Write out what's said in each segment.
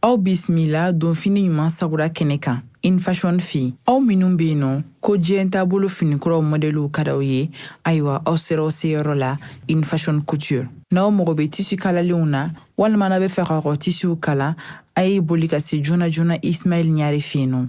aw bisimila donfini ɲuman sagura kɛnɛ kan infashɔn fɛ aw minnu be yen nɔ ko diɲɛ taabolo finikuraw mɔdɛliw ka d'aw ye ayiwa aw sera aw seyɔrɔ la infashɔn couture n'aw mago be tisi kalalenw na walima n'a be fɛ k'aw ka tisiw kala a ye boli ka se joona joona ismail ɲare fɛ yen nɔ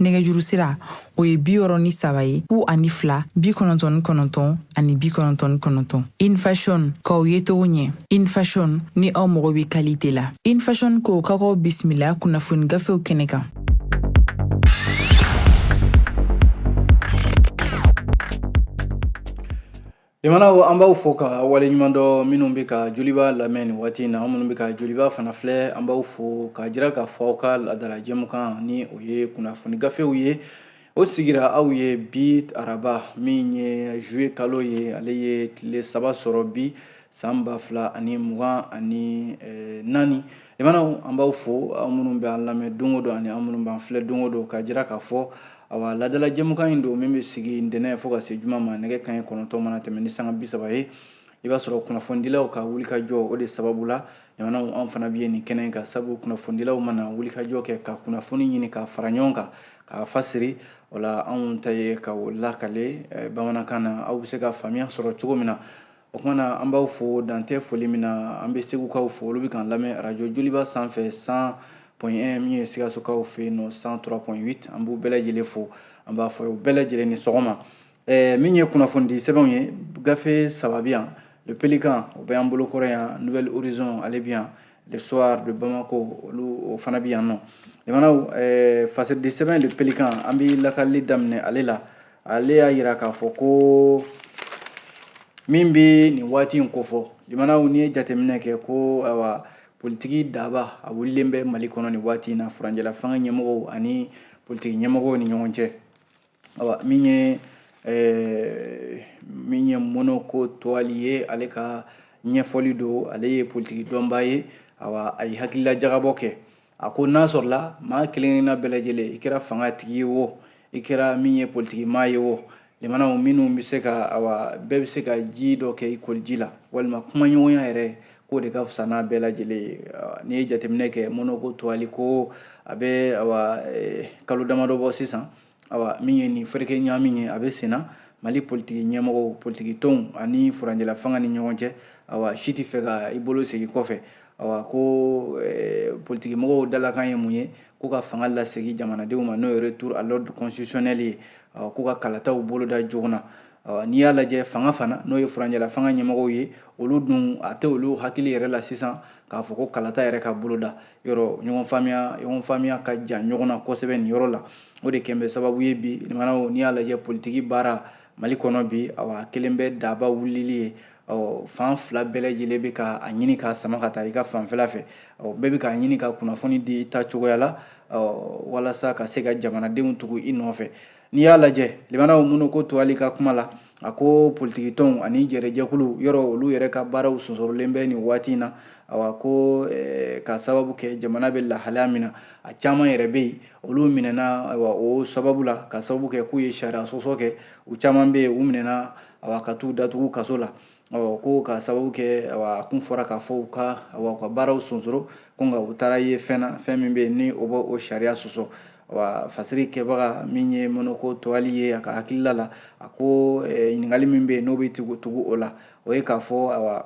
nɛgɛjuru sira o ye bi wɔɔrɔ ni saba ye fu ani fila bi kɔnɔntɔn ni kɔnɔntɔn ani bi kɔnɔntɔn ni kɔnɔntɔn infashon k'aw ye togo ɲɛ infashon ni aw mago bɛ kalite la infashon ko ka k'aw bisimila kunnafoni gafew kɛnɛ kan jamanaw an b'aw fo ka waleɲumandɔn minnu bɛ ka joliba lamɛn nin waati in na aw minnu bɛ ka joliba fana filɛ an b'aw fo k'a jira k'a fɔ aw ka laadala jɛmukan ni o ye kunnafoni gafew ye o sigira aw ye bi araba min ye juye kalo ye ale ye tile saba sɔrɔ bi san ba fila ani mugan ani eh, naani jamanaw an b'aw fo aw minnu bɛ an lamɛn don o don ani aw minnu b'an filɛ don o don k'a jira k'a fɔ aw ka laadala jɛmukan in don min bɛ sigi ntɛnɛn fo ka se juma ma nɛgɛ kanɲɛ kɔnɔntɔn mana tɛmɛ ni sanga bi saba ye i b'a sɔrɔ kunnafonidilaw ka wulikajɔ o de sababu la jamanaw an fana bɛ nin kɛnɛ kan sabu kunnafonidilaw mana wulikajɔ kɛ ka kunnafoni ɲini k'a fara ɲɔgɔn kan k'a fasiri o la anw ta ye ka o lakale eh, bamanankan na aw bɛ se ka faamuya sɔrɔ cogo min na o kama na an b'aw fo dan tɛ foli min na an bɛ segukaw fo olu bɛ k'an lamɛn arajo joliba sanfɛ cent point un min ye sikasokaw fɛ yen nɔ cent trois point huit an b'u bɛɛ lajɛlen fo an b'a fɔ u bɛɛ lajɛlen ni sɔgɔma ɛɛ min ye kunnafonidi sɛbɛnw ye gafe saba bi yan le pélican o bɛ an bolo kɔrɔ yan nouvel horizon ale bi yan le soir de bamako olu o fana bi yan nɔ jamanaw ɛɛ fasididi sɛbɛn le pélican an bɛ lakalili daminɛ ale la ale y'a jira k'a fɔ ko min bɛ nin waati in kofɔ jamanaw n'i ye jateminɛ kɛ ko ayiwa politiki daba a wulilen bɛ mali kɔnɔ nin waati in na furancɛlafanga ɲɛmɔgɔw ani politiki ɲɛmɔgɔw ni ɲɔgɔn cɛ ayiwa min ye eh, min ye monoko toaly ye ale ka ɲɛfɔli don ale ye politiki dɔnbaa ye ayiwa a ye hakilila jagabɔ kɛ a ko n'a sɔrɔla maa kelenkelenna bɛɛ lajɛlen i kɛra fangatigi ye wo i kɛra min ye politikimaa ye wo jamanaw minnu bɛ se ka awa bɛɛ bɛ se ka ji dɔ kɛ i koliji la walima kumaɲɔgɔnya yɛrɛ k'o de ka fisa n'a bɛɛ lajɛlen ye n'i ye jateminɛ kɛ monoko toaly ko a bɛ awa e, kalo damadɔ bɔ sisan awa min ye nin fereke ɲami ye a bɛ senna mali politiki ɲɛmɔgɔw politiki tɔnw ani furanjɛla fanga ni ɲɔgɔn cɛ awa si tɛ fɛ ka i bolo segin kɔfɛ awa ko eh, politiki mɔgɔw dalakan ye mun ye k'u ka fanga lasegin jamanadenw ma n'o ye retour à l'ordre constitutionnel ye awa k'u ka kalataw boloda joona na awa n'i y'a lajɛ fanga fana n'o ye furanjɛla fanga ɲɛmɔgɔw ye olu dun a tɛ olu hakili yɛrɛ la sisan k'a fɔ ko kalata yɛrɛ ka boloda yɔrɔ ɲɔgɔn faamuya ɲɔgɔn faamuya ka jan ɲɔgɔn na kosɛbɛ nin yɔrɔ la o de kɛlen bɛ sababu ye bi limanaw n'i y'a lajɛ politiki baara mali kɔnɔ bi awa a kɛlen bɛ daba wulili ye ɔ fan fila bɛɛ lajɛlen bɛ ka a ɲini k'a sama ka taa i ka fanfɛla fɛ ɔ bɛɛ bɛ k'a ɲini ka kunnafoni di i ta cogoya la ɔ walasa ka se ka jamanadenw tugu i nɔfɛ n'i y'a lajɛ limanaw mɔnɔko tɔwali ka kuma la A ko politikitɔnw ani jɛrɛjɛkulu yɔrɔ olu yɛrɛ ka baaraw sonsorolen bɛ nin waati in na awa ko ka sababu kɛ jamana bɛ lahalaya min na a caman yɛrɛ bɛ yen olu minɛna o sababu la ka sababu kɛ k'u ye sariya sɔsɔ kɛ u caman bɛ yen u minɛna awa ka taa u datugu kaso la ɔ ko ka sababu kɛ a kun fɔra k'a fɔ u ka wa ka baaraw sonsoro ko nka u taara ye fɛn na fɛn min bɛ yen ni o bɛ o sariya sɔsɔ wa fasiri kɛbaga min ye mɔnɔko tɔwali ye a ka hakilila la a ko ɲininkali min bɛ yen n'o bɛ tugu tugu o la o ye k'a fɔ awa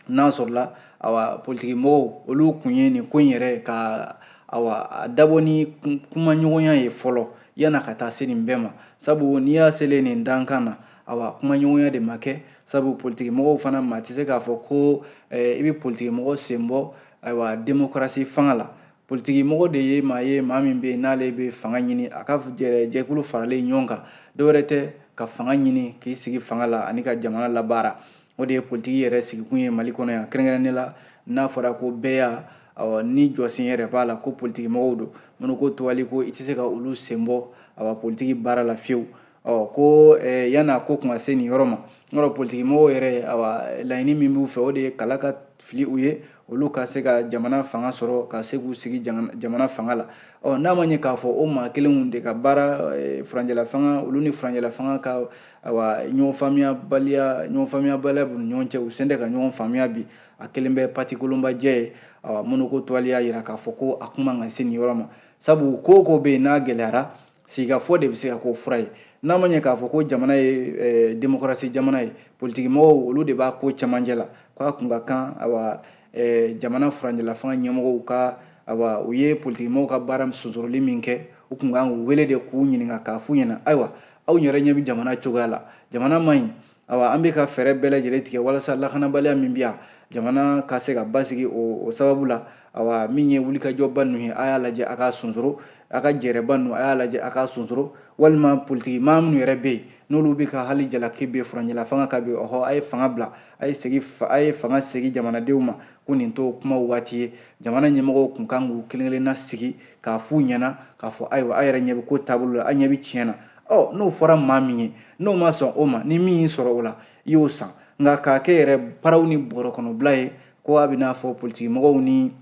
n'a sɔrɔla awa politikimɔgɔw olu kun ye nin ko in yɛrɛ ka awa a dabɔ ni kumaɲɔgɔnya ye fɔlɔ yan'a ka taa se nin bɛɛ ma sabu n'i y'a selen nin dankan na awa kumaɲɔgɔnya de ma kɛ sabu politikimɔgɔw fana maa tɛ se k'a fɔ ko eh, i bɛ politikimɔgɔ senbɔ ayiwa demokarasi fanga la politikimɔgɔ de ye maa ye maa min bɛ yen n'ale bɛ fanga ɲini a ka jɛkulu faralen ɲɔgɔn kan dɔwɛrɛ tɛ ka fanga ɲini k'i sigi fanga la ani ka jamana labaara o de ye politiki yɛrɛ sigikun ye mali kɔnɔ yan kɛrɛnkɛrɛnnen la n'a fɔra ko bɛɛ y'a awa ni jɔsen yɛrɛ b'a la ko politikimɔgɔw don mɔnɔko tɔwali ko i tɛ se ka olu senbɔ awa politiki baara la fiyewu ɔ ko eh, yan'a ko kun ka se nin yɔrɔ ma n yɔrɔ politikimɔgɔw yɛrɛ awa laɲini min b'u fɛ o de ye kala ka fili u ye olu ka se ka jamana fanga sɔrɔ ka se k'u sigi jamana fanga la ɔ n'a ma ɲɛ k'a fɔ o maa kelenw de ka baara eh, furancɛlafanga olu ni furancɛlafanga ka awa ɲɔgɔn faamuyabaliya ɲɔgɔn faamuyabaliya b'u ni ɲɔgɔn cɛ u selen tɛ ka ɲɔgɔn faamuya bi a kɛlen bɛ patikolonbajɛ ye awa mɔnɔko tɔwali y'a jira k'a fɔ ko a kun man kan ka se nin yɔrɔ ma sabu ko ko bɛ yen n'a gɛlɛyara sigikafɔ de bɛ se ka k'o fura ye n'a ma ɲɛ k'a fɔ ko jamana ye eh, demokarasi jamana ye politikimɔgɔw olu de b'a ko cɛmancɛ la k'a kun ka kan awa eh, jamana furanjɛlafanga ɲɛmɔgɔw ka awa u ye politikimɔgɔw ka baara sonsoroli min kɛ u kun kan k'u wele de k'u ɲininka k'a f'u ɲɛna ayiwa aw yɛrɛ ɲɛ bɛ jamana cogoya la jamana man ɲi awa an bɛ ka fɛɛrɛ bɛɛ lajɛlen tigɛ walasa lakanabaliya min bɛ yan jamana ka se ka basigi o sababu la awa min ye wulikajɔba ninnu ye a y'a lajɛ a k'a sonsoro a ka jɛrɛba ninnu a y'a lajɛ a k'a sonsoro walima politiki maa minnu yɛrɛ bɛ yen n'olu bɛ ka hali jalaki bin furancɛla fanga kan bi ɔhɔ a ye fanga bila a ye segin a ye fanga segin jamanadenw ma ko nin t'o kumaw waati ye jamana ɲɛmɔgɔw kun kan k'u kelen kelenna sigi k'a f'u ɲɛna k'a fɔ ayiwa a yɛrɛ ɲɛ bɛ ko taabolo la a ɲɛ bɛ tiɲɛ na ɔ n'o fɔra maa min ye n'o ma sɔn o ma ni min y'i sɔrɔ o la i y'o san nka k'a kɛ yɛrɛ paraw ni bɔrɔ kɔnɔbila ye ko a bɛ n'a fɔ politikimɔgɔw ni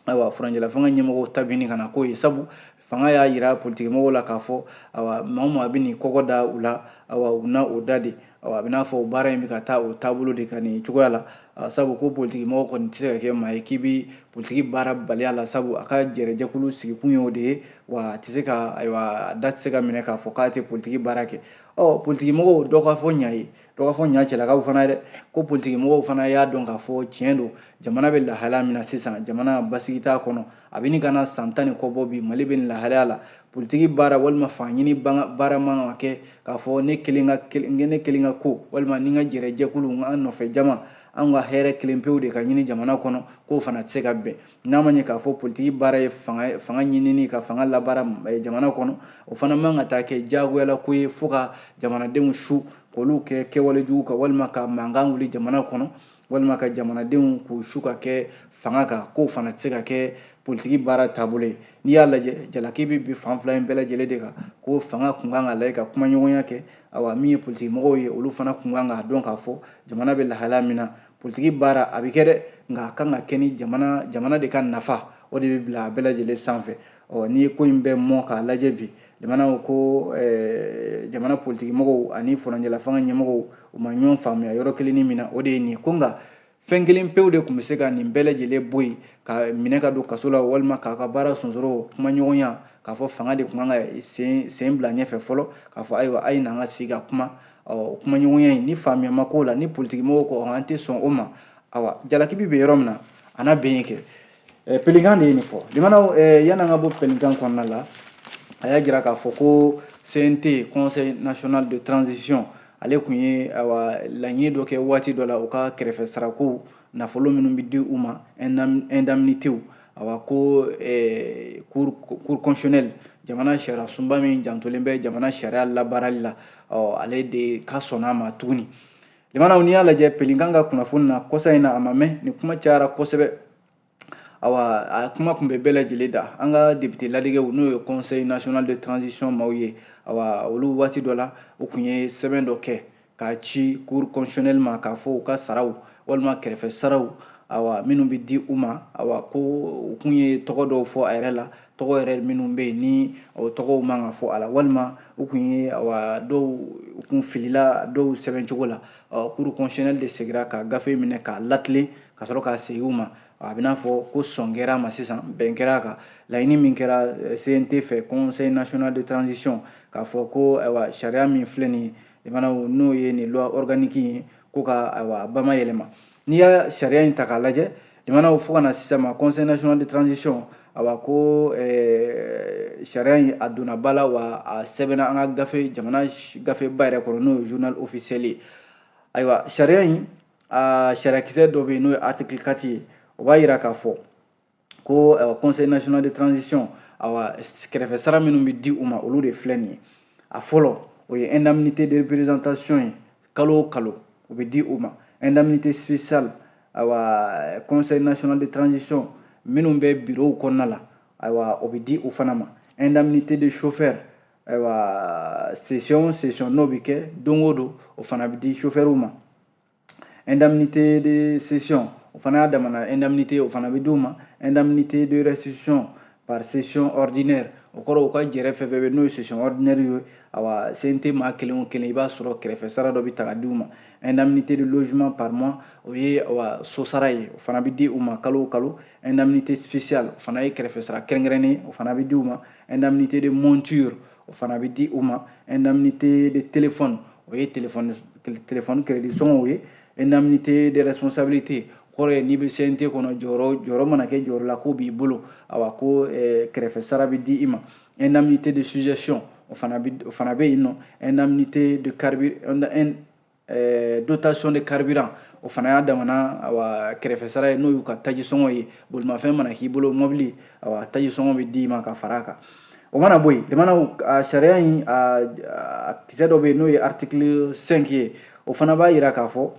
ayiwa furancɛlafanga ɲɛmɔgɔw ta bɛ ɲini ka na k'o ye sabu fanga y'a yira politikimɔgɔw la k'a fɔ awa maa o maa bɛ n'i kɔgɔ da u la awa u na o da de a bɛ n'a fɔ baara in bɛ ka taa o taabolo de kan nin cogoya la sabu ko politiki mɔgɔ kɔni tɛ se ka kɛ maa ye k'i bɛ politiki baara bali a la sabu a ka jɛrɛjɛkulu sigikun y'o de ye wa a tɛ se ka ayiwa da tɛ se ka minɛ k'a fɔ k'a tɛ politiki baara kɛ ɔ politiki mɔgɔw dɔ ka fɔ ɲa ye dɔ ka fɔ ɲa cɛlakaw fana ye dɛ ko politiki mɔgɔw fana y'a dɔn k'a fɔ tiɲɛ don jamana bɛ lahalaya min na sisan jamana basigi t'a kɔnɔ a bɛ ɲini ka na san tan ni kɔ bɔ bi mali bɛ nin lahalaya la politiki baara walima fangaɲini baara man ka kɛ k'a fɔ ne kelen ka ne kelen ka ko walima ne ka jɛrɛjɛkulu n ka nɔfɛ jama an ka hɛrɛ kelen pewu de ka ɲini jamana kɔnɔ k'o fana tɛ se ka bɛn n'a ma ɲɛ k'a fɔ politiki baara ye fanga fanga ɲinini ka fanga labaara eh, jamana kɔnɔ o fana man ka taa kɛ diyagoyala ko ye fo ka jamanadenw su k'olu kɛ kɛwale jugu kan walima ka mankan wuli jamana kɔnɔ walima ka jamanadenw k'u su ka kɛ fanga kan k'o fana tɛ se ka kɛ politiki baara taabolo ye n'i y'a lajɛ jalaki bɛ bin fan fila in bɛɛ lajɛlen de kan ko fanga kun kan k'a lajɛ ka kumaɲɔgɔnya kɛ awa min ye politiki mɔgɔw ye olu fana kun kan k'a dɔn k'a fɔ jamana bɛ lahalaya min na politiki baara a bɛ kɛ dɛ nka a kan ka kɛ ni jamana jamana de ka nafa o de bɛ bila a bɛɛ lajɛlen sanfɛ ɔ n'i ye ko in bɛɛ mɔ k'a lajɛ bi jamana ko eh, jamana politikimɔgɔw ani furancɛlafanga ɲɛmɔgɔw u ma ɲɔgɔn faamuya yɔrɔ kelennin min na o de ye nin ye ko nka fɛn kelen pewu de tun bɛ se ka nin bɛɛ lajɛlen bɔ yen k'a minɛ k'a don kaso la walima k'a ka baara sonsoro kumaɲɔgɔnya k'a fɔ fanga de tun kan ka sen sen bila ɲɛfɛ fɔlɔ k'a fɔ ayiwa a ye n'an ka sigi ka kuma ɔ kumaɲɔgɔnya in ni faamuya ma k'o la ni politikimɔgɔw ko an tɛ sɔn o ma awa jalaki bɛ bin yɔrɔ min na a na bin yen kɛ Pélican de ye nin fɔ jamana yan an ka bɔ Pélican kɔnɔna la a y'a jira k'a fɔ ko CNT Conseil National de Transition ale tun ye laɲini dɔ kɛ waati dɔ la u ka kɛrɛfɛ sarako nafolo minnu bɛ di u ma indemnités awa ko Cour constitutionnelle jamana sariya sunba min jantolen bɛ jamana sariya labaarali la ale de ka sɔn a ma tuguni jamanaw n'i y'a lajɛ pelinkan ka kunnafoni na kɔsa in na a ma mɛn nin kuma cayara kosɛbɛ awa a kuma tun bɛ bɛɛ lajɛlen da an ka depite ladegew n'o ye conseil national de transition maaw ye awa olu waati dɔ la u tun ye sɛbɛn dɔ kɛ k'a ci cour constitutionnelle ma k'a fɔ u ka saraw walima kɛrɛfɛ saraw awa minnu bɛ di u ma awa ko u kun ye tɔgɔ dɔw fɔ a yɛrɛ la tɔgɔ yɛrɛ minnu bɛ yen ni o tɔgɔw man ka fɔ a la walima u tun ye wa dɔw u kun filila dɔw sɛbɛn cogo la cour constitutionnelle de segira ka gafe minɛ k'a latilen ka sɔrɔ k'a segin u ma a bɛ n'a fɔ ko sɔn kɛra a ma sisan bɛn kɛra a kan laɲini min kɛra eh, cnt fɛ conseil national de transition k'a fɔ ko ayiwa sariya min filɛ nin ye n'o ye nin loi organique ye ko ka ayiwa bamayɛlɛma n'i y'a sariya in ta k'a lajɛ jamanaw fo ka na sisan ma conseil national de transition awa ko eh, sariya in a donna ba la wa a sɛbɛnna an ka gafe jamana gafeba yɛrɛ kɔnɔ n'o ye journal officiel ye ayiwa sariya in a sariyakisɛ dɔ bɛ yen n'o ye article 4 ye o b'a jira k'a fɔ ko ayiwa conseil national de transition awa kɛrɛfɛ sara minnu bɛ di u ma olu de filɛ nin ye a fɔlɔ o ye indemnité de représentation ye kalo o kalo o bɛ di u ma indemnité spéciale ayiwa conseil national de transition minnu bɛ bureau kɔnɔna la ayiwa o bɛ di u fana ma indemnité de chauffeur ayiwa session session n'o bɛ kɛ don o don o fana bɛ di chauffeur ma indemnité de session o fana y'a damana indemnité o fana bɛ d'u ma indemnité de restitution par session ordinaire o kɔrɔ u ka jɛrɛ fɛn fɛn bɛ n'o ye session ordinaire ye awa CNT maa kelen o kelen i b'a sɔrɔ kɛrɛfɛ sara dɔ bɛ ta ka di u ma indemnité de logement par mois o ye awa sosara ye o fana bɛ di u ma kalo o kalo indemnité spéciale o fana ye kɛrɛfɛ sara kɛrɛnkɛrɛnnen o fana bɛ di u ma indemnité de monture o fana bɛ di u ma indemnité de téléphone o ye téléphone téléphone crédit sɔngɔw ye indemnité de responsabilité kɔrɔ ye n'i bɛ CNT kɔnɔ jɔyɔrɔ jɔyɔrɔ mana kɛ jɔyɔrɔ la ko b'i bolo awa ko eh, kɛrɛfɛ sara bɛ di i ma indemnité de sujétion o fana bɛ o fana bɛ yen nɔ indemnité de eh, dotation de carburant o fana y'a damana awa kɛrɛfɛ sara ye n'o y'u ka tajisɔngɔ ye bolimafɛn mana k'i bolo mɔbili awa tajisɔngɔ bɛ d'i ma ka fara a kan o mana bɔ yen jamanaw a sariya in a kisɛ dɔ bɛ yen n'o ye article 5 ye o fana b'a jira k'a fɔ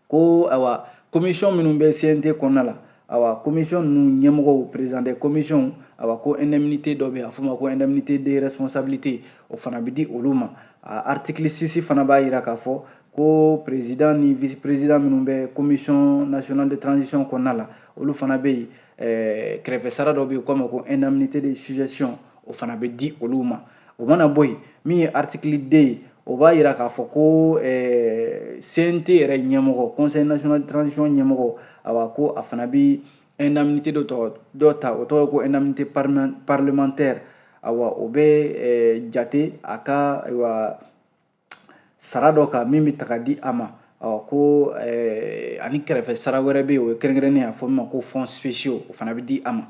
ko awa commission minnu bɛ cnt kɔnɔna la awa commission ninnu ɲɛmɔgɔw président des commissions awa ko indemnité dɔ bɛ yen a f'o ma ko indemnité de responsabilité o fana bɛ di olu ma article 6 fana b'a jira k'a fɔ ko président ni vice président minnu bɛ commission nationale de transition kɔnɔna la olu fana bɛ yen kɛrɛfɛ sara dɔ bɛ yen k'o ma ko indemnité de sujétion o fana bɛ di olu ma o mana bɔ yen min ye artikili deux ye o b'a jira k'a fɔ ko eh, cnt yɛrɛ ɲɛmɔgɔ conseil national de transition ɲɛmɔgɔ awa ko a fana bɛ indemnité dɔ ta o tɔgɔ ye ko indemnité parlementaire awa o bɛ eh, jate a ka ayiwa sara dɔ kan min bɛ ta ka di a ma ɔ ko eh, ani kɛrɛfɛ sara wɛrɛ bɛ yen o ye kɛrɛnkɛrɛnnen a fɔ min ma ko fonds spéciaux o fana bɛ di a ma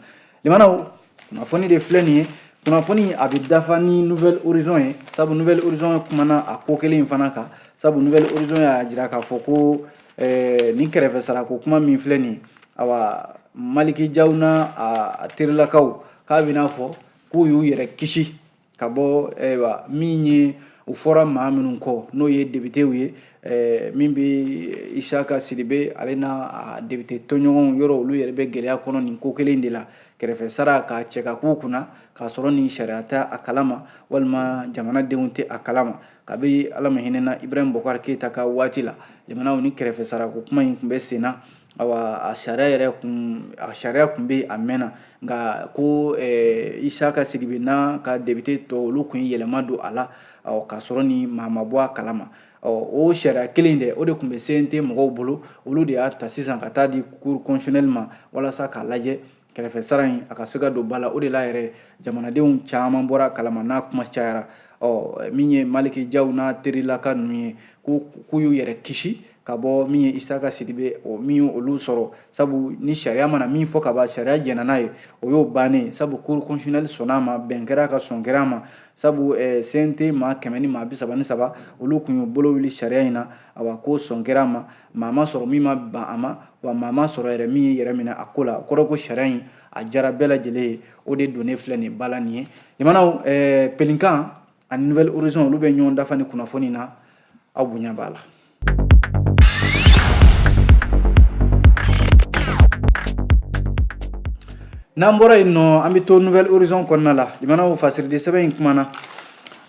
limanaw kunnafoni de filɛ nin ye kunnafoni a bɛ dafa ni nouvelle horizon ye sabu nouvelle horizon kumana a ko kelen in fana kan sabu nouvelle horizon y'a jira k'a fɔ ko eh, nin kɛrɛfɛ sarako kuma min filɛ nin ye awa maliki jaw n'a a terilakaw k'a bɛ n'a fɔ k'u y'u yɛrɛ kisi ka bɔ ayiwa min ye u fɔra maa minnu kɔ n'o ye debitew ye eh, min bɛ isaka sidibe ale n'a debite tɔɲɔgɔnw yɔrɔ olu yɛrɛ bɛ gɛlɛya kɔnɔ nin ko kelen de la kɛrɛfɛ sara ka cɛ ka k'u kunna k'a sɔrɔ nin sariya tɛ a kalama walima jamanadenw tɛ a kalama kabi ala ma hinɛna ibrahim bɔkari keyita ka waati la limanaw ni kɛrɛfɛ sarako kuma in tun bɛ sen na awa a sariya yɛrɛ kun a sariya kun bɛ a mɛnna nka ko eh, isaka sidibe n'a ka debite tɔ olu kun ye yɛlɛma don a la k'a sɔrɔ ni maa ma bɔ a kalama o sariya kelen dɛ o de tun bɛ cnt mɔgɔw bolo olu de y'a ta sisan ka taa di cour constitutionnelle ma walasa k'a lajɛ kɛrɛfɛ sara in a ka se ka don ba la o de la yɛrɛ jamanadenw caman bɔra a kalama n'a kuma cayara ɔ min ye maliki jaw n'a terilaka ninnu ye k'u y'u yɛrɛ kisi ka bɔ min ye isaka sidibe o min ye olu sɔrɔ sabu ni sariya mana min fɔ ka ban sariya jɛnna n'a ye o y'o bannen sabu cour constitutionnelle sɔnna a ma bɛn kɛra ka sɔn kɛra a ma sabu eh, cnt maa kɛmɛ ni maa bi saba ni saba olu kun y'u bolo wuli sariya in na awa k'o sɔn kɛra a ma maa ma sɔrɔ min ma ban a ma wa maa ma sɔrɔ yɛrɛ min y'i yɛrɛ minɛ a ko la kɔrɔ ko sariya in a jara bɛɛ lajɛlen ye o de donnen filɛ nin ba la nin ye limanaw eh, pelinkan ani nouvelle horizon olu bɛ ɲɔgɔn dafa ni kunnafoni na aw bonya b'a la n'an bɔra yen nɔ an bɛ to nouvelle horizon kɔnɔna la limanaw fasiridi sɛbɛn in kumana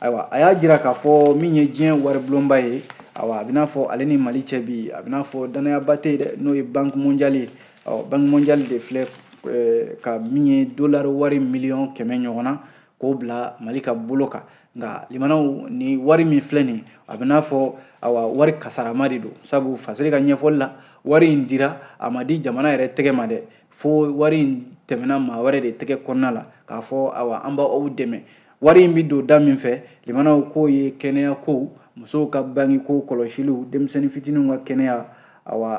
ayiwa a y'a jira k'a fɔ min ye diɲɛ waribulonba ye awa a bɛ n'a fɔ ale ni mali cɛ bi a bɛ n'a fɔ dannayaba tɛ yen dɛ n'o ye banki monjali ye ɔ banki monjali de filɛ eh, ka min ye dolari wari miliyɔn kɛmɛ ɲɔgɔn na k'o bila mali ka bolo kan nka limanaw ni wari min filɛ nin a bɛ n'a fɔ awa wari kasarama de don sabu fasiri ka ɲɛfɔli la wari in dira a ma di jamana yɛrɛ tɛgɛ ma dɛ fo wari in tɛmɛna maa wɛrɛ de tɛgɛ kɔnɔna la k'a fɔ awa an b'aw dɛmɛ Wari in bɛ don da min fɛ limanaw k'o ye kɛnɛya kow musow ka bange ko kɔlɔsiliw denmisɛnnin fitininw ka kɛnɛya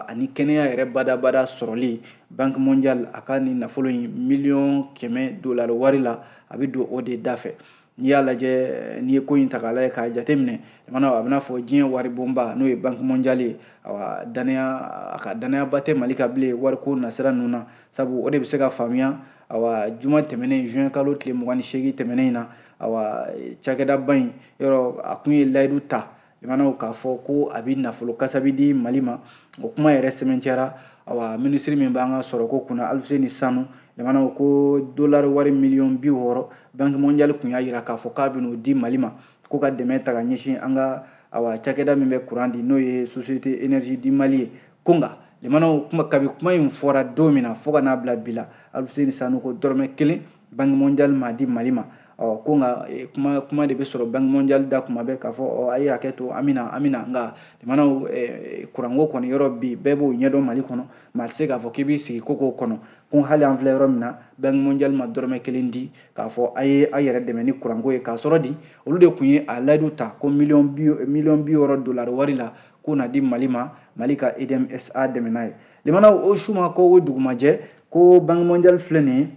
ani kɛnɛya yɛrɛ badabada sɔrɔli banki mondial a ka nin nafolo in miliyɔn kɛmɛ dolari wari la a bɛ don o de da fɛ n'i y'a lajɛ n'i ye ko in ta k'a lajɛ k'a jate minɛ a bɛn'a fɔ diɲɛ wari bonba n'o ye banki mondial ye a ka dannayaba tɛ mali kan bilen wari ko nasira ninnu na sabu o de bɛ se ka faamuya awa juma tɛmɛnen juin kalo tile mugan ni seegin tɛmɛnen in na awa cakɛdaba in yɔrɔ a kun ye layidu ta jamanaw k'a fɔ ko a bɛ nafolo kasabi di mali ma o kuma yɛrɛ sɛmɛntiyara awa minisiri min b'an ka sɔrɔko kunna alfuseni sanu jamanaw ko dolari wari miliyɔn bi wɔɔrɔ banki mondial kun y'a jira k'a fɔ k'a bɛn'o di mali ma ko ka dɛmɛ ta ka ɲɛsin an ka awa cakɛda min bɛ kuran di n'o ye société énergie du mali ye ko nka limanaw kuma kabi kuma in fɔra don min na fo ka n'a bila bi la alfuseni sanu ko dɔrɔmɛ kelen banki mondial ma di mali ma ɔ ko nka e, kuma kuma de bɛ sɔrɔ banki mondial da kuma bɛɛ k'a fɔ ɔ a ye hakɛ to an bɛna an bɛna nka limanaw e, kuranko kɔni yɔrɔ bi bɛɛ b'o ɲɛdɔn mali kɔnɔ maa tɛ se k'a fɔ k'i b'i sigi ko k'o kɔnɔ ko hali an filɛ yɔrɔ min na banki mondial ma dɔrɔmɛ kelen di k'a fɔ a ye a yɛrɛ dɛmɛ ni kuranko ye k'a sɔrɔ dun olu de kun ye a layidu ta ko miliyɔn bi miliyɔn bi wɔɔrɔ dolari wari la k'o na di mali ma mali ka edmsa dɛmɛ n'a ye limanaw o su ma ko o dugumajɛ ko banki mondial filɛ nin ye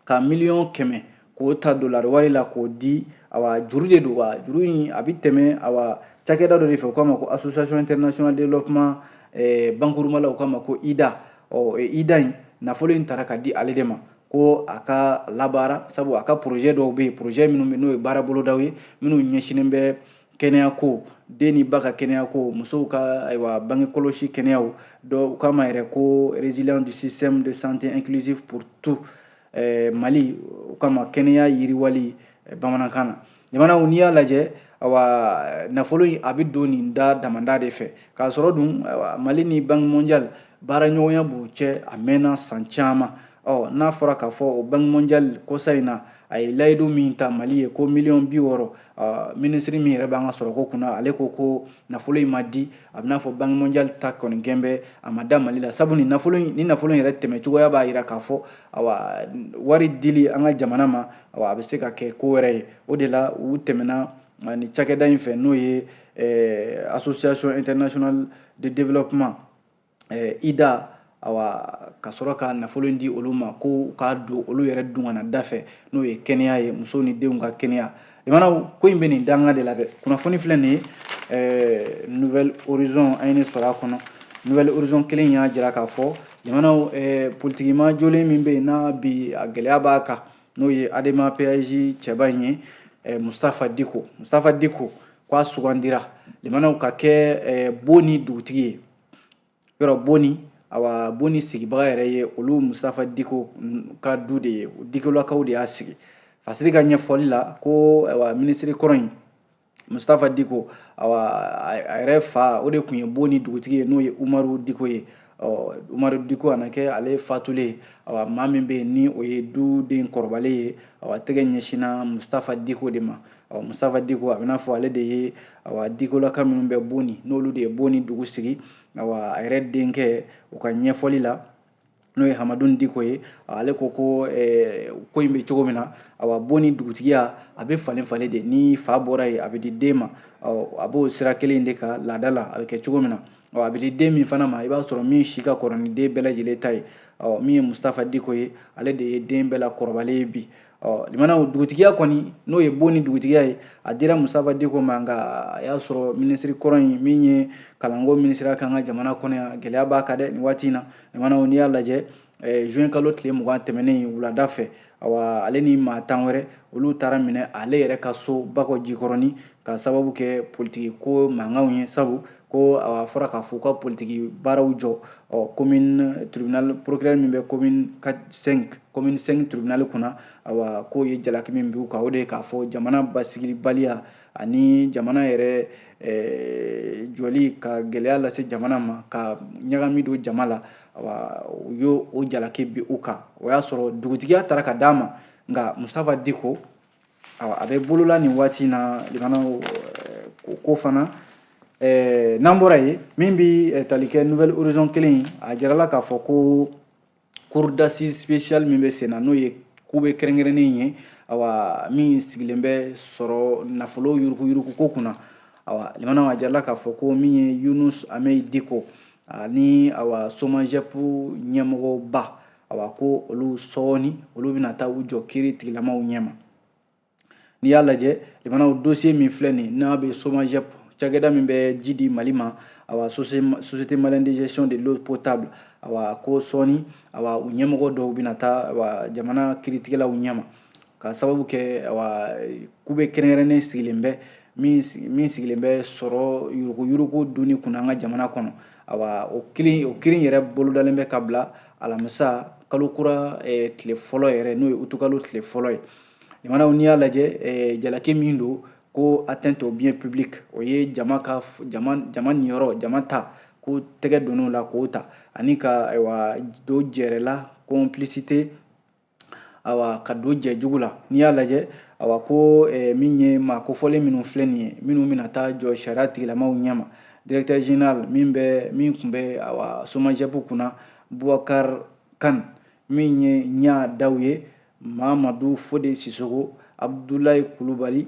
ka miliyɔn kɛmɛ k'o ta dolari wari la k'o di awa juru de don wa juru in a bɛ tɛmɛ awa cakɛda dɔ de fɛ u k'a ma ko association international développement eh, bakurunba la u k'a ma ko ida ɔ eh, ida in nafolo in tara ka di ale de ma ko a k'a labaara sabu a ka projet dɔw bɛ yen projet minnu bɛ n'o ye baara bolodaw ye minnu ɲɛsinnen bɛ kɛnɛyako den ni ba ka kɛnɛyako musow ka ayiwa bange kɔlɔsi kɛnɛyaw dɔ u k'a ma yɛrɛ ko résilience du système de santé inclusive pour tout eh, mali u k'a ma kɛnɛya yiriwali eh, bamanankan na jamanaw n'i y'a lajɛ awa nafolo in a bɛ don nin da damadɔ de fɛ k'a sɔrɔ dun mali ni banque mondiale baaraɲɔgɔnya b'u cɛ a mɛnna san caman ɔ n'a fɔra k'a fɔ o banki mondial kɔsa in na a ye layidu min ta mali ye ko miliyɔn bi wɔɔrɔ minisiri min yɛrɛ b'an ka sɔrɔko kunna ale ko ko nafolo in ma di a bɛn'a fɔ banki mondial ta kɔni gɛn bɛ a ma da mali la sabu nin nafolo in nin nafolo in yɛrɛ tɛmɛ cogoya b'a jira k'a fɔ awa wari dili an ka jamana ma awa a bɛ se ka kɛ ko wɛrɛ ye o de la u tɛmɛna ni cakɛda in fɛ n'o ye association international de développement eh, IDA awa ka sɔrɔ ka nafolo in di olu ma ko k'a don olu yɛrɛ dungana da fɛ n'o ye kɛnɛya ye musow ni denw ka kɛnɛya limanaw ko in bɛ nin danga de la dɛ kunnafoni filɛ nin ye eh, nouvelle horizon an ye nin sɔrɔ a kɔnɔ nouvelle horizon kelen y'a jira k'a fɔ limanaw eh, politiki maa jolen min bɛ yen n'a bi a gɛlɛya b'a kan n'o ye adema PASJ cɛba in ye eh, mustafa diko mustafa diko k'a sugandira limanaw ka kɛ eh, boni dugutigi ye yɔrɔ boni awa boni sigibaga yɛrɛ ye olu mustafa diko ka du de ye dikolakaw de y'a sigi fasiri ka ɲɛfɔli la ko awa minisiri kɔrɔ in mustafa diko awa a yɛrɛ fa o de tun ye boni dugutigi ye n'o ye umaru diko ye umaru diko a na kɛ ale fatulen awa maa min bɛ yen ni o ye duden kɔrɔbalen ye awa tɛgɛ ɲɛsinna mustafa diko de ma ɔ mustafa diko a b'i n'a fɔ ale de ye awa dikolaka minnu bɛ boni n'olu de ye boni dugu sigi awa a yɛrɛ denkɛ u ka ɲɛfɔli la n'o ye hamadun diko ye ale ko ko eh, ko in bɛ cogo min na awa boni dugutigiya a bɛ falen falen de ni fa bɔra yen a bɛ di den ma a b'o sira kelen de kan laada la a bɛ kɛ cogo min na a bɛ di den min fana ma i b'a sɔrɔ min si ka kɔrɔ ni den bɛɛ lajɛlen ta ye min ye mustafa diko ye ale de ye den bɛɛ la kɔrɔbalen ye bi ɔ limanaw dugutigiya kɔni n'o ye boni dugutigiya ye a dira mustafa diko ma nka a y'a sɔrɔ minisiri kɔrɔ in min ye kalanko minisiriya k'an ka jamana kɔnɔ yan gɛlɛya b'a kan dɛ nin waati in na limanaw n'i y'a lajɛ eh, juin kalo tile mugan tɛmɛnen wulada fɛ awa ale ni maa tan wɛrɛ olu taara minɛ ale yɛrɛ ka so bakɔ jikɔrɔni ka sababu kɛ politiki ko mankanw ye sabu ko a fɔra k'a fɔ u ka politiki baaraw jɔ ɔ commune tribunal procureur min bɛ commune 5 commune 5 tribunal kunna awa k'o ye jalaki min b'u kan o de ye k'a fɔ jamana basigibaliya ani jamana yɛrɛ eh, jɔli ka gɛlɛya lase jamana ma ka ɲagami don jama la awa u y'o jalaki bin u kan o y'a sɔrɔ dugutigiya taara ka d'a ma nka mustafa diko a bɛ bolo la nin waati na limanaw ko ko fana n'an bɔra yen min bɛ tali kɛ nouvelle horizon kelen a jirala k'a fɔ ko cour d'assises spéciale min bɛ senna n'o ye kube kɛrɛnkɛrɛnnen ye awa min sigilen bɛ sɔrɔ nafolo yuruguyurugu ko kunna awa limanaw a jirala k'a fɔ ko min ye yunus hamɛyi diko ani awa somajɛpu ɲɛmɔgɔba a b'a ko olu sɔɔni olu bɛna taa u jɔ kiritigɛlamaw ɲɛma n'i y'a lajɛ limanaw dosiye min filɛ nin n'a bɛ somajɛp cakɛda min bɛ ji di mali ma awa société malienne de gestion de l'eau potable awa ko sɔɔni awa u ɲɛmɔgɔ dɔw bɛna taa awa jamana kiritigɛlaw ɲɛma ka sababu kɛ awa kube kɛrɛnkɛrɛnnen sigilen bɛ min sigilen bɛ sɔrɔ yuruguyurugu dunni kunna an ka jamana kɔnɔ awa o kiiri o kiiri yɛrɛ bolodalen bɛ ka bila alamisa kalo kura eh, tile fɔlɔ yɛrɛ n'o ye utukalo tile fɔlɔ ye limanaw n'i y'a lajɛ eh, jalaki min don ko atteinte au bien public o ye jama ka jama jama niyɔrɔ jama ta ko tɛgɛ don o la k'o ta ani ka ayiwa don jɛrɛla complicité awa ka don jɛ jugu la n'i y'a lajɛ awa ko eh, min ye maa kofɔlen minnu filɛ nin ye minnu bɛna taa jɔ sariya tigilamaw ɲɛma directeur général min bɛ min tun bɛ awa somajɛp kunna bubakar kan min ye ɲa daw ye mamadu fode sisoko abudulayi kulubali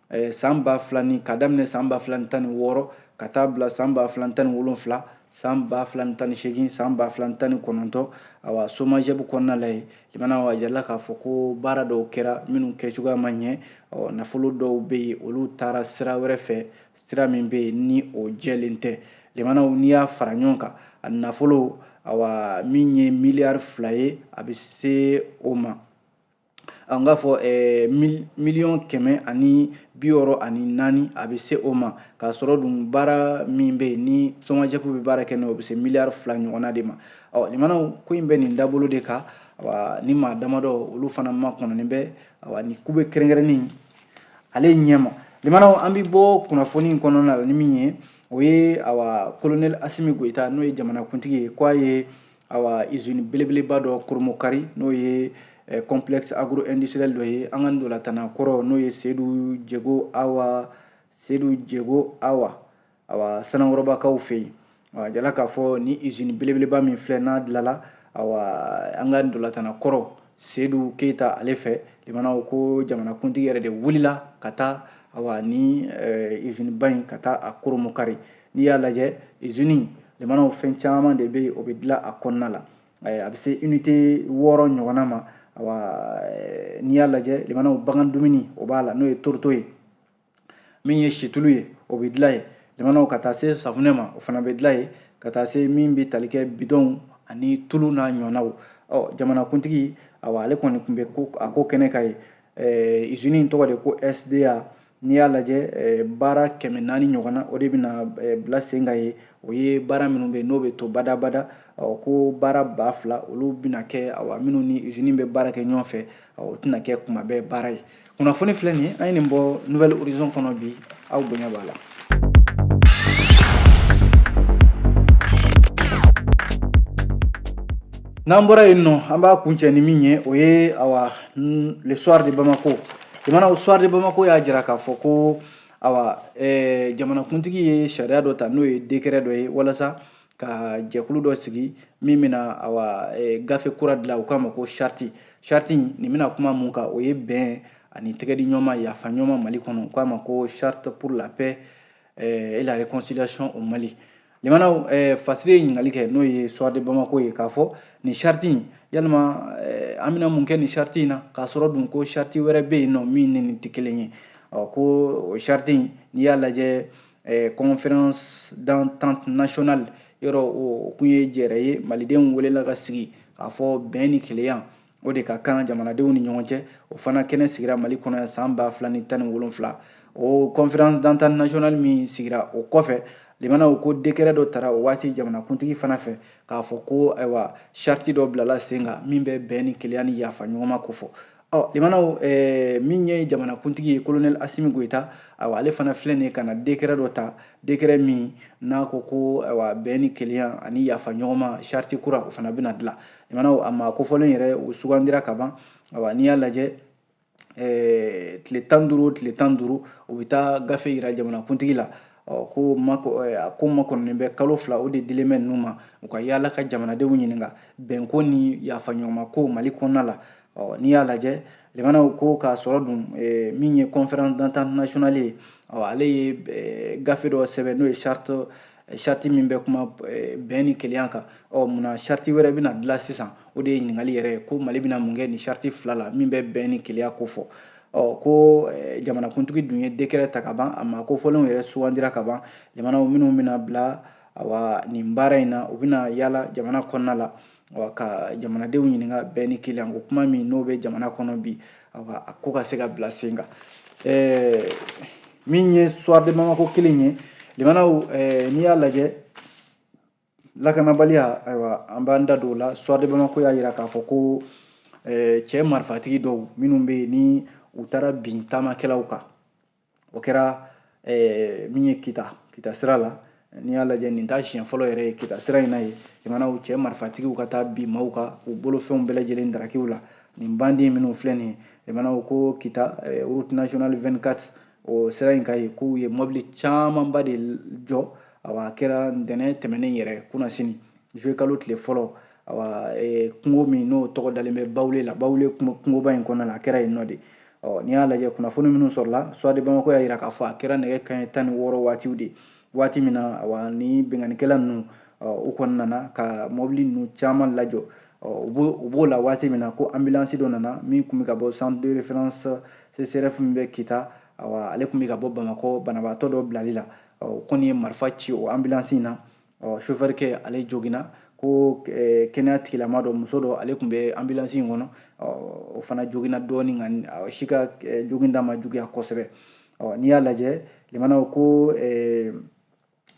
eh, san ba fila ni ka daminɛ san ba fila ni tan ni wɔɔrɔ ka taa bila san ba fila ni tan ni wolonfila san ba fila ni tan ni seegin san ba fila ni tan ni kɔnɔntɔn awa somajɛp kɔnɔna la yen limanaw a jirala k'a fɔ ko baara dɔw kɛra minnu kɛ cogoya ma ɲɛ ɔ nafolo dɔw bɛ yen olu taara sira wɛrɛ fɛ sira min bɛ yen ni o jɛlen tɛ limanaw n'i y'a fara ɲɔgɔn kan a nafolo awa min ye miliyari fila ye a bɛ se o ma an k'a fɔ eh, miliyɔn kɛmɛ ani bi wɔɔrɔ ani naani a bɛ se o ma k'a sɔrɔ dun baara min bɛ yen ni somajɛp bɛ baara kɛ n'o bɛ se miliyari fila ɲɔgɔnna de ma ɔ limanaw ko in bɛ nin dabolo de kan awa ni maa damadɔ olu fana makɔnɔnen bɛ awa ni ku bɛ kɛrɛnkɛrɛnni ale ɲɛma limanaw an bɛ bɔ kunnafoni in kɔnɔna la ni min ye o ye awa kolonɛli asimi goyita n'o ye jamanakuntigi ye ko a ye awa izini belebeleba dɔ koromokari n'o ye eh, complexe agro industriel dɔ ye an ka ntolatanna kɔrɔ n'o ye sedu jego awa sedu jego awa awa sanankɔrɔbakaw fɛ yen awa a jirala k'a fɔ ni izini belebeleba min filɛ n'a dilala awa an ka ntolatanna kɔrɔ seyidu keyita ale fɛ limanaw ko jamanakuntigi yɛrɛ de wulila ka taa awa ni iziniba in ka taa a koromokari n'i y'a lajɛ izini limanaw fɛn caman de bɛ o bɛ dilan a kɔnɔna la a bɛ se inite wɔɔrɔ ɲɔgɔnna ma n'i y'a lajɛ limanaw bagan dumuni o b'a la n'o ye toroto ye min ye situlu ye o bɛ dilan yen limanaw ka taa se safunɛ ma o fana bɛ dilan yen ka taa se min bɛ tali kɛ bidɔnw ani tulu n'a ɲɔgɔnnaw ɔ jamanakuntigi awa ale kɔni tun bɛ ko a ko kɛnɛ kan yen ɛɛ izini in tɔgɔ de ko sda n'i y'a lajɛ baara kɛmɛ naani ɲɔgɔnna o de bɛna bila sen kan yen o ye baara minnu bɛ n'o bɛ to badabada ɔ ko baara ba fila olu bɛna kɛ awa minnu ni izini bɛ baara kɛ ɲɔgɔn fɛ o tɛna kɛ kuma bɛɛ baara ye kunnafoni filɛ nin ye an ye nin bɔ nouvel horizon kɔnɔ bi aw bonya b'a la n'an bɔra yen nɔ an b'a kuncɛ ni min ye o ye awa le soir de bamako limanaw soir de bamako y'a jira k'a fɔ ko awa eh, jamanakuntigi ye sariya dɔ ta n'o ye décret dɔ ye walasa ka jɛkulu dɔ sigi min bɛna awa e, gafe kura dilan u k'a ma ko charte charte nin bɛna kuma mun kan o ye bɛn ani tɛgɛdi ɲɔma yafa ɲɔma mali kɔnɔ u k'a ma ko charte pour la paix e, et la réconciliation au mali limanaw e, fasiri ye ɲininkali kɛ n'o ye soir de bamako ye k'a fɔ nin charte in yalima an bɛna mun kɛ nin charte in na k'a sɔrɔ dun ko charte wɛrɛ bɛ yen nɔ min ni nin tɛ kelen ye ɔ ko o charte in n'i y'a lajɛ eh, conférence d'entente nationale yɔrɔ o kun ye jɛrɛ ye malidenw welela ka sigi k'a fɔ bɛn ni kelenya o de ka kan jamanadenw ni ɲɔgɔn cɛ o fana kɛnɛ sigira mali kɔnɔ yan san ba fila ni tan ni wolonfila o conférence d'entente nationale min sigira o kɔfɛ limanaw ko dekɛrɛ dɔ tara o waati jamanakuntigi fana fɛ k'a fɔ ko ayiwa charte dɔ bilala sen kan min bɛ bɛn ni kelenya ni yafa ɲɔgɔnma kofɔ ɔ limanaw eh, min ye jamanakuntigi ye kolonɛli asimi goyita awa ale fana filɛ nin ye ka na dekɛrɛ dɔ ta dekɛrɛ min n'a ko ko awa bɛn ni kelenya ani yafa ɲɔgɔnma charte kura o fana bɛna dilan limanaw a maa kofɔlen yɛrɛ o sugandira ka ban awa n'i y'a lajɛ eh, tile tan ni duuru tile tan ni duuru o bɛ taa gafe yira jamanakuntigi la ɔ ko mako a ko makɔnɔnen bɛ kalo fila o de dilen bɛ ninnu ma u ka yaala ka jamanadenw ɲininka bɛnko ni yafaɲɔgɔnma ko mali kɔnɔna la ɔ n'i y'a lajɛ limanaw ko k'a sɔrɔ dun eh, min ye conférence d'entente nationale ye ɔ ale ye eh, gafe dɔ sɛbɛn n'o ye charte eh, charte min bɛ kuma bɛn ni kelenya kan ɔ munna charte wɛrɛ bɛna dilan sisan o de ye ɲininkali yɛrɛ ye ko mali bɛna mun kɛ nin charte fila la min bɛ bɛn ni kelenya kofɔ ɔ ko jamanakuntigi dun ye décret ta ka ban a maa kofɔlenw yɛrɛ sugandira ka ban limanaw minnu bɛna bila awa nin baara in na u bɛna yaala jamana kɔnɔna la wa ka jamanadenw ɲininka bɛn ni kelenya ko kuma min n'o bɛ jamana kɔnɔ bi awa a ko ka se ka bila sen kan ɛɛ min ye soir de bamako kelen ye limanaw ɛɛ n'i y'a lajɛ lakanabaliya ayiwa an b'an da don o la soir de bamako y'a yira k'a fɔ ko ɛɛ cɛ marifatigi dɔw minnu bɛ yen ni u taara bin taamakɛlaw kan o kɛra eh, min ye kita kita sira la n'i y'a lajɛ nin t'a siɲɛ fɔlɔ yɛrɛ ye kita sira in na yen limanaw cɛ marifatigiw ka taa bin maaw kan u bolofɛnw bɛɛ lajɛlen daraki u la nin bandi minnu filɛ nin ye limanaw ko kita eh, route nationale 24 o sira in kan yen k'u ye mɔbili camanba de jɔ awa a kɛra ntɛnɛn tɛmɛnen yɛrɛ kunasini juillet kalo tile fɔlɔ awa e, kungo min n'o tɔgɔ dalen bɛ bawule la bawule kungoba in kɔnɔna na a kɛra yen nɔ de ɔ n'i y'a lajɛ kunnafoni minnu sɔrɔla soir de bamako y'a yira k'a fɔ a kɛra nɛgɛ kanɲɛ tan ni wɔɔrɔ waatiw de waati min na awa ni binkannikɛla ninnu u kɔni nana ka mɔbili ninnu caman lajɔ u b'o la waati min na ko ambulansi dɔ nana min tun bɛ ka bɔ centre de référence CSREF min bɛ kita awa ale tun bɛ ka bɔ bamakɔ banabaatɔ dɔ bilali la u kɔni ye marifa ci o ambulansi in na ɔ sofɛrikɛ ale joginna ko eh, kɛnɛya tigilama dɔ muso dɔ ale tun bɛ ambulansi in kɔnɔ o fana joginna dɔɔni nka si ka eh, joginda ma juguya kosɛbɛ n'i y'a lajɛ limanaw ko eh,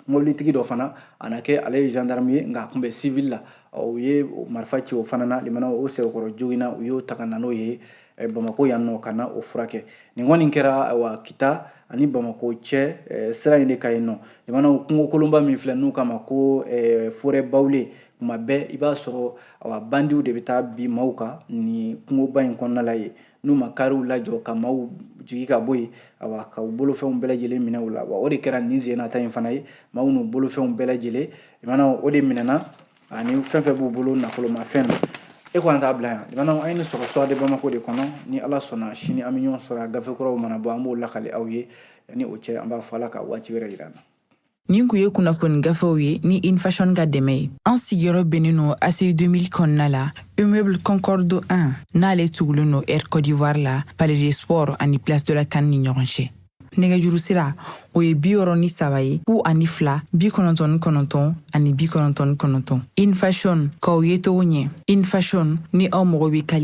mobilitigi dɔ fana a na kɛ ale ye gendarme ye nka a tun bɛ civil la u ye marifa ci o fana na limanaw o sɛbɛkɔrɔ joginna u y'o ta ka na n'o ye eh, bamako yan nɔ ka na o furakɛ nin kɔni kɛra wa kita ani bamako cɛ eh, sira in de ka yen nɔ limanaw kungo kolonba min filɛ n'u k'a ma ko eh, forêt bawule tuma bɛɛ i b'a sɔrɔ awa bandiw de bɛ taa bin maaw kan nin kungoba in kɔnɔna la yen n'u ma kariw lajɔ ka maaw jigi ka bɔ yen awa ka u bolofɛnw bɛɛ lajɛlen minɛ u la wa o de kɛra nin sen na ta in fana ye maaw n'u bolofɛnw bɛɛ lajɛlen limanaw o de minɛna ani fɛn fɛn b'u bolo nafolomafɛn na e ko an t'a bila yan limanaw an ye nin sɔrɔ soir de bamako de kɔnɔ ni ala sɔnna sini an bɛ ɲɔgɔn sɔrɔ a gafe kuraw mana bɔ an b'o lakali aw ye ni o cɛ an b'a fɔ ala ka waati wɛrɛ yira an na nin kun ye kunnafoni gafew ye ni infashion ka dɛmɛ ye an sigiyɔrɔ bɛnnen no aci 2000 kɔnɔna la immeuble concorde 1 n'ale tugulen no air côte d'ivoire la palais des sports ani place de la can ni ɲɔgɔn cɛ nɛgɛjuru sira o ye bi wɔɔrɔ ni saba ye fu ani fila bi kɔnɔntɔn ni kɔnɔntɔn ani bi kɔnɔntɔn ni kɔnɔntɔn infashion k'aw yecogo ɲɛ infashion ni aw mago bɛ kali